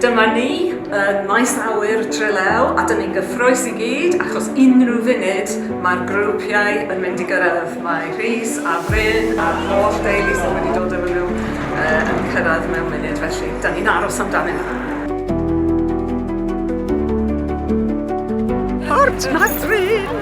Dyma ni yn maes awyr Trelew a dyn ni'n gyffrous i gyd achos unrhyw funud mae'r grwpiau yn mynd i gyrraedd. Mae Rhys a Bryn a'r holl deulu sydd wedi dod efo nhw yn cyrraedd mewn munud felly dyn ni'n aros amdanyn nhw. Port Madryn!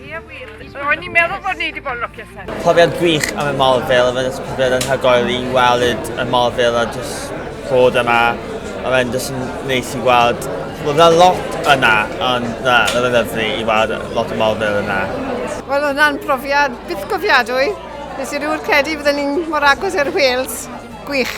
Ie wir, ro'n i'n meddwl bod ni wedi bod yn lwcus hyn. Profiad gwych am y mol fel yma, jyst profiad yn hygoel i weld y mol fel a jyst fod yma. A mae'n jyst yn neis i weld, roedd yna lot yna, ond na, roedd yn lyflu i weld lot o mol fel yna. Wel, hwnna'n profiad byth gofiadwy. Nes i rwy'r credu fydden ni'n mor agos i'r Wales. Gwych.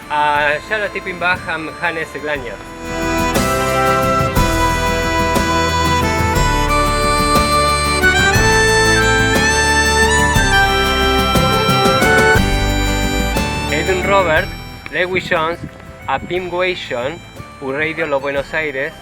A siarad tipyn bach am hanes y glaniad. Robert, Lewis Jones a Pim Gweision, wreiddiol o Buenos Aires,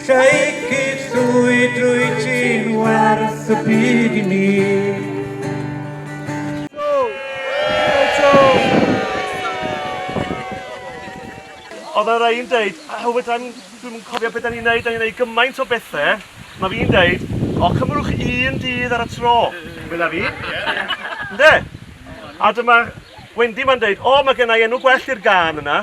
Lleucid llwyd rwyt ti'n werth y byd i mi. Oedd yna rei'n deud, o fedra i'm, dwi'm yn cofio beth da ni'n neud, da ni'n neud gymaint o bethau. Mae fi'n deud, o cymrwch un dydd ar y tro, medda fi. Ynde? A dyma Wendy ma'n deud, o mae gennau enw gwell i'r gân yna.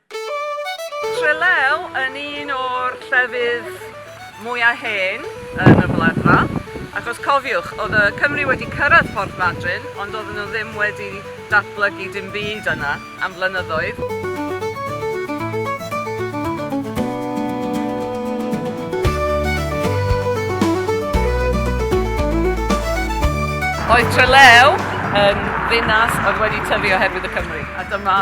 Trelew yn un o'r llefydd mwya hen yn y Wladfa, ac os cofiwch, oedd y Cymry wedi cyrraedd Porth Madryn, ond oedden nhw ddim wedi datblygu dim byd yna am flynyddoedd. Oedd Trelew yn ddinas oedd wedi tyfu oherwydd y Cymry, a dyma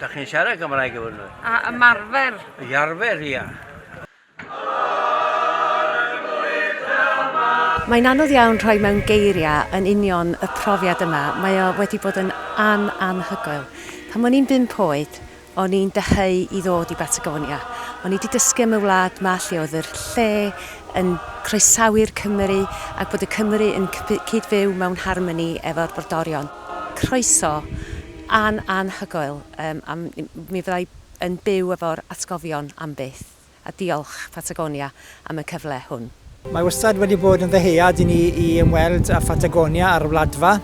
Da chi'n siarad Cymraeg efo nhw? A ymarfer. I arfer, ia. Mae'n anodd iawn rhoi mewn geiriau yn union y profiad yma, mae o wedi bod yn an anhygoel. Pan o'n i'n bump oed, o'n i'n dyheu i ddod i Batagonia. O'n i 'di dysgu am y wlad 'ma lle oedd yr lle yn croesawu'r Cymry ac bod y Cymry yn cyd-fyw mewn harmoni efo'r brodorion. Croeso! An, anhygoel. Yym, a mi, mi fydda i yn byw efo'r atgofion am byth. A diolch, Phatagonia, am y cyfle hwn. Mae wastad wedi bod yn ddyhead i ni i ymweld â Phatagonia ar y Wladfa,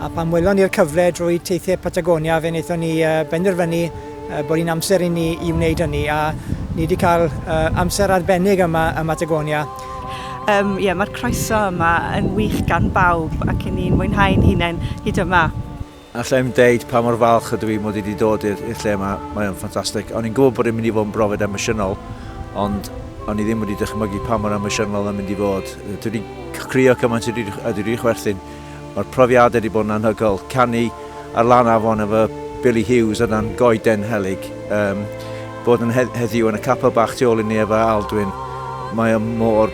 a pan welon ni'r cyfle drwy Teithiau Patagonia, fe wnaethon ni benderfynu bod hi'n amser i ni i wneud hynny, a ni wedi cael amser arbennig yma ym Mhatagonia. Yym, ie, mae'r croeso yma yn wych gan bawb, ac 'yn ni'n mwynhau'n hunain hyd yma. Alla i'm deud pa mor falch ydw i mod i wedi dod i'r i'r lle 'ma, mae o'n ffantastig. O'n i'n gwybod bod e'n mynd i fod yn brofiad emosiynol, ond o'n i ddim wedi dychmygu pa mor emosiynol oedd o'n mynd i fod. Yy, dwi 'di c- crio cymaint a dwi 'di- a dwi 'di chwerthin. Mae'r profiadau wedi bod yn anhygoel. Canu ar lan afon efo Billy Hughes o dan goeden helyg, um, bod yn he- heddiw yn y capel bach tu ôl i ni efo Aldwyn, mae o mor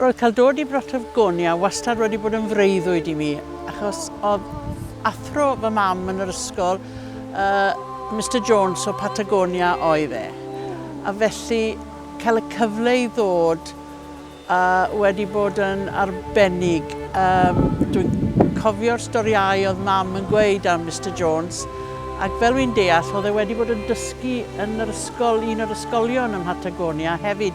Roedd cael dod i Brotowgonia wastad wedi bod yn freuddwyd i mi, achos oedd athro fy mam yn yr ysgol, uh, Mister Jones o Patagonia oedd e. A felly cael y cyfle i ddod uh, wedi bod yn arbennig. Um, Dwi'n cofio'r storiau oedd mam yn gweud am Mister Jones, ac fel wy'n deall, oedd e wedi bod yn dysgu yn yr ysgol, un o'r ysgolion ym Patagonia hefyd.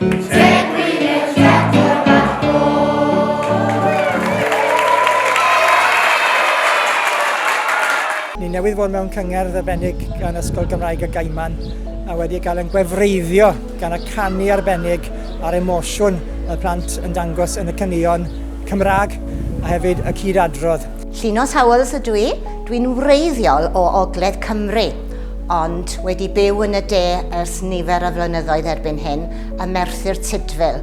Ni newydd fod mewn cyngerdd arbennig gan Ysgol Gymraeg y Gaiman a wedi cael yn gwefreiddio gan y canu arbennig a'r emosiwn y plant yn dangos yn y caneuon Cymraeg a hefyd y cyd-adrodd. Llinos Howells ydw i. Dwi'n wreiddiol o Ogledd Cymru. ond wedi byw yn y de ers nifer o flynyddoedd erbyn hyn, ym Merthyr Tudful,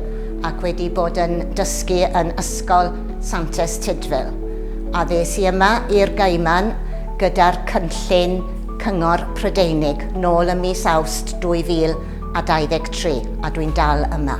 ac wedi bod yn dysgu yn Ysgol Santes Tudful. Addes i yma i'r Gaiman gyda'r cynllun Cyngor Prydeinig nôl ym mis Awst 2023, a dwi'n dal yma.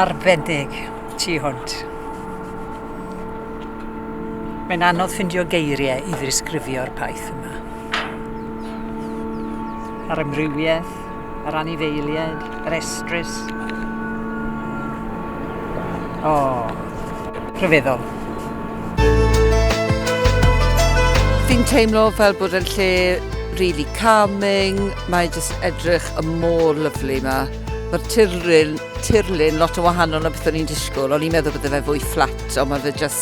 Arbennig ti hwnt. Mae'n anodd ffindio geiriau i ddisgrifio'r paith yma. A'r amrywiaeth yr anifeiliaid, yr estrys. O, rhyfeddol. Fi'n teimlo fel bod yn lle really calming, mae jyst edrych y môr lyflu yma. Mae'r tirlun, tirlun lot o wahanol na beth o'n i'n disgwyl, o'n i'n meddwl bod fe fwy fflat, ond mae fe jyst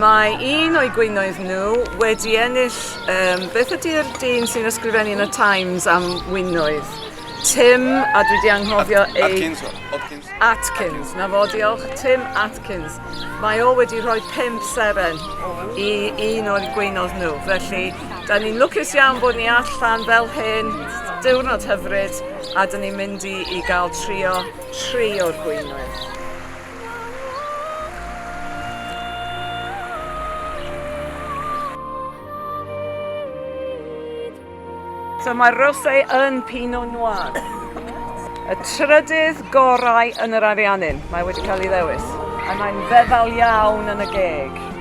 Mae un o'i gwinoedd nhw wedi ennill um, beth ydy'r dyn sy'n ysgrifennu yn y Times am winoedd? Tim, a dwi wedi anghofio ei... Atkins. Atkins. Atkins. Na fo, diolch. Tim Atkins. Mae o wedi rhoi pimp seren i un o'r gweinodd nhw. Felly, da ni'n lwcus iawn bod ni allan fel hyn, diwrnod hyfryd, a da ni'n mynd i, i gael trio tri o'r gweinoedd. So mae rosé yn Pinot Noir. Y trydydd gorau yn yr Ariannin. Mae wedi cael ei ddewis. A mae'n feddal iawn yn y geg.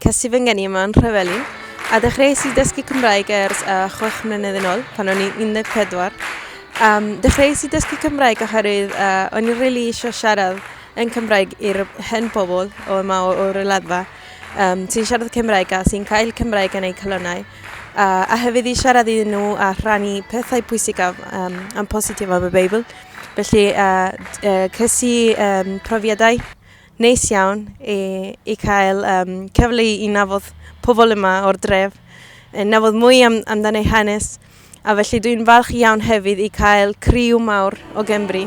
Ces i fy ngeni yma yn Nhrevelin, a dechreuais i dysgu Cymraeg ers uh, chwech mlynedd yn ôl, pan o'n i 14. Um, dechreuais i dysgu Cymraeg oherwydd uh, o'n i'n rili really eisiau siarad yn Cymraeg i'r hen bobl o yma o'r O'r um, sy'n siarad Cymraeg a sy'n cael Cymraeg yn eu calonau uh, a hefyd i siarad iddyn nhw a rhannu pethau pwysicaf um, am positif am y Beibl. Felly, uh, uh, ces i um, profiadau Neis iawn i, i cael um, cyfle i, i nafod pobl yma o'r dref, yn nafod mwy am, amdan ei hanes, a felly dwi'n falch iawn hefyd i cael criw mawr o Gymru.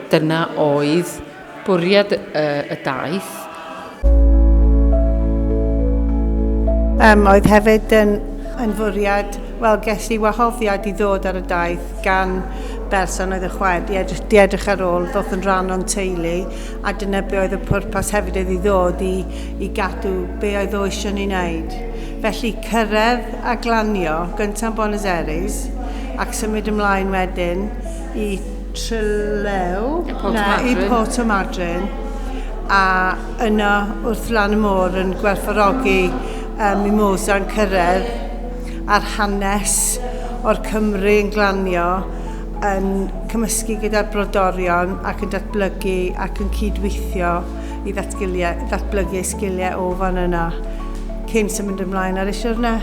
Dyna oedd bwriad y daith. Yym, oedd hefyd yn, yn fwriad, wel, ges i wahoddiad i ddod ar y daith gan berson oedd y chwaer di edrych, di edrych ar ôl ddoth yn rhan o'n teulu a dyna be oedd y pwrpas hefyd oedd i ddod i, i gadw be oedd o eisiau ni wneud. Felly cyrraedd a glanio gyntaf yn Buenos Aires ac symud ymlaen wedyn i Tryllew 'na i Portmargin a yna wrth lan y môr yn gwerthfawrogi yy Mimosa yn cyrraedd a'r hanes o'r Cymry yn glanio yn cymysgu gyda'r brodorion ac yn datblygu ac yn cyd-weithio i ddatgiliau- ddatblygu eu sgiliau o fan yna cyn symud ymlaen ar eu siwrne.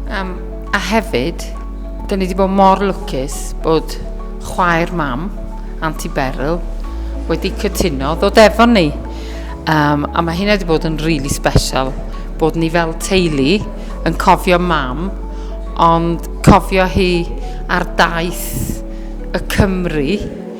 Yym. A hefyd, dyn ni wedi bod mor lwcus bod chwaer mam, Auntie Beryl, wedi cytuno ddod efo ni. Um, a mae hynna wedi bod yn rili really special, bod ni fel teulu yn cofio mam, ond cofio hi ar daith y Cymru,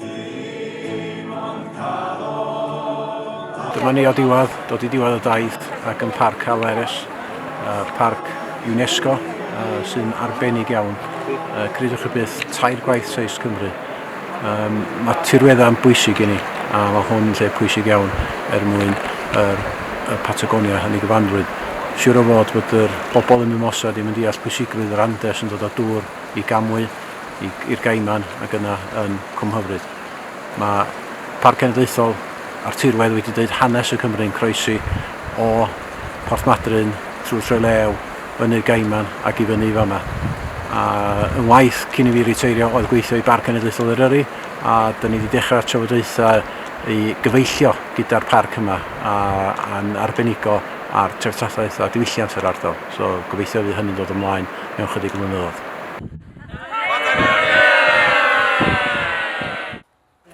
Dim ond calon a... Dyma ni o'r diwedd, dod i diwedd y daith ac yn Parc Hal Erys, parc UNESCO sy'n arbennig iawn. Credwch chi byth, tair gwaith seis Cymru. Um, mae tirweddau yn bwysig i ni, a mae hwn yn lle pwysig iawn er mwyn yr, y Patagonia yn ei gyfanrwydd. Siwr o fod bod yr bobl yn Mimosa ddim yn deall pwysigrwydd yr Andes yn dod o dŵr i gamwy, i'r Gaiman ac yna yn Cwmhyfryd. Mae Parc Cenedlaethol a'r tirwedd wedi dweud hanes y Cymru yn croesi o Porthmadryn trwy Trelew, fyny'r Gaiman ac i fyny i fama. A yn waith cyn i fi riteirio oedd gweithio i Barc Cenedlaethol Eryri a da ni wedi dechrau trafodaethau i gyfeillio gyda'r parc yma a, a'n arbenigo ar treftadaeth a diwylliant yr ardal. So gobeithio fydd hynny'n dod ymlaen mewn chydig o flynyddoedd.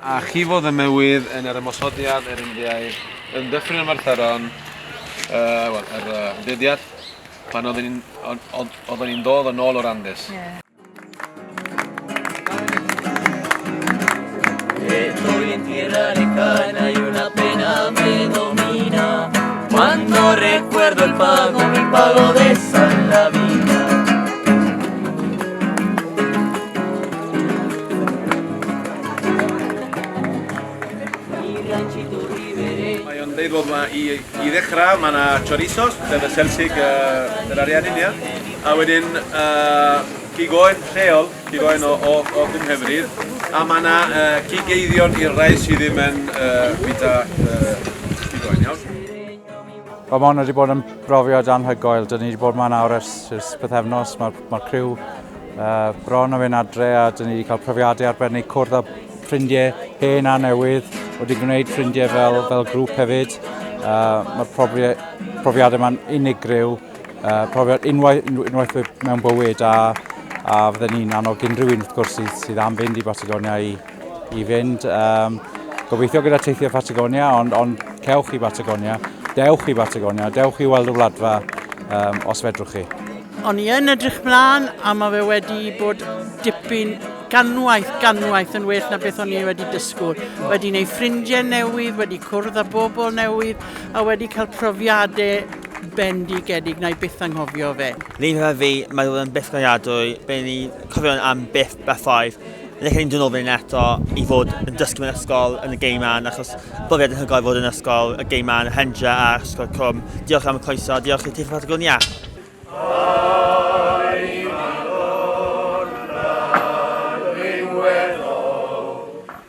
A chifodd y mywydd yn yr ymosodiad yr Indiaidd yn Dyffryn Abertharon, uh, wel, yr uh, dyddiad pan oeddwn ni'n oeddwn ni'n dod yn ôl o'r Andes. Yeah. ddechrau, mae yna chorizos, sef y selsig uh, yr ariannin, ia. A wedyn uh, gigoen lleol, Dwi boen o o o fy Nghymru a ma' 'na yy cig-eiddion i'r rhai sy ddim yn yy bwyta yy cig oen iawn? Wel ma' hwn wedi bod yn brofiad anhygoel. Dyn ni wedi bod yma nawr ers ers pythefnos. Mae'r ma criw uh, bron yn mynd adre a dyn ni wedi cael profiadau arbennig cwrdd â ffrindiau hen a newydd. Wedi gwneud ffrindiau fel, fel grŵp hefyd. Uh, Mae'r profiadau yma'n unigryw. Uh, profiad unwaith, unwaith mewn bywyd a, a fydden ni'n annog unrhyw un wrth gwrs sydd, sydd am fynd i Batagonia i, i fynd. Um, gobeithio gyda teithio Patagonia, ond, ond cewch i Batagonia, dewch i Batagonia, dewch i weld y wladfa um, os fedrwch chi. O'n i yn edrych mlaen a mae fe wedi bod dipyn ganwaith, ganwaith yn well na beth o'n i wedi dysgwyr. Wedi gwneud ffrindiau newydd, wedi cwrdd â bobl newydd a wedi cael profiadau bendigedig, na i byth anghofio fe. Lin gyda fi, mae roedd yn beth gradadwy, fe ni cofio'n am byth bethau. Yn eich ni'n dynol fan eto i fod yn dysgu mewn ysgol yn y gei man, achos brofiad yn hygol i fod yn ysgol, y gei man, Hendra a Ysgol Cwm. Diolch am y croeso, diolch i Teithio Patagonia.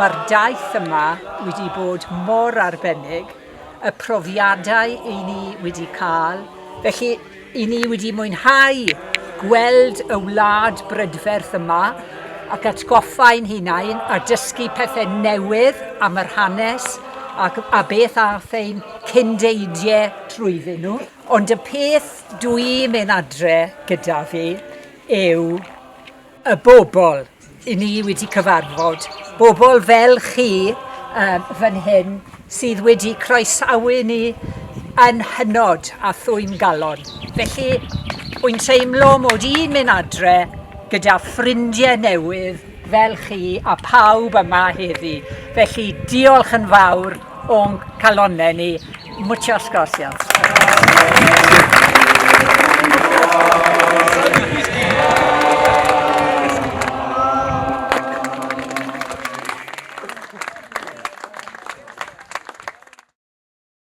Mae'r daith yma wedi bod mor arbennig, y profiadau i ni wedi cael, felly i ni wedi mwynhau gweld y wlad brydferth yma ac atgoffa ein hunain a dysgu pethau newydd am yr hanes ac a beth aeth ein cyndeidiau trwyddyn nhw. Ond y peth dwi'n mynd adre gyda fi yw y bobl i ni wedi cyfarfod, bobl fel chi um, fan hyn sydd wedi croesawu ni yn hynod a thwyn galon. Felly, wy'n teimlo mod i'n mynd adre gyda ffrindiau newydd fel chi a pawb yma heddi. Felly, diolch yn fawr O'n calonnau ni. Muchas gracias.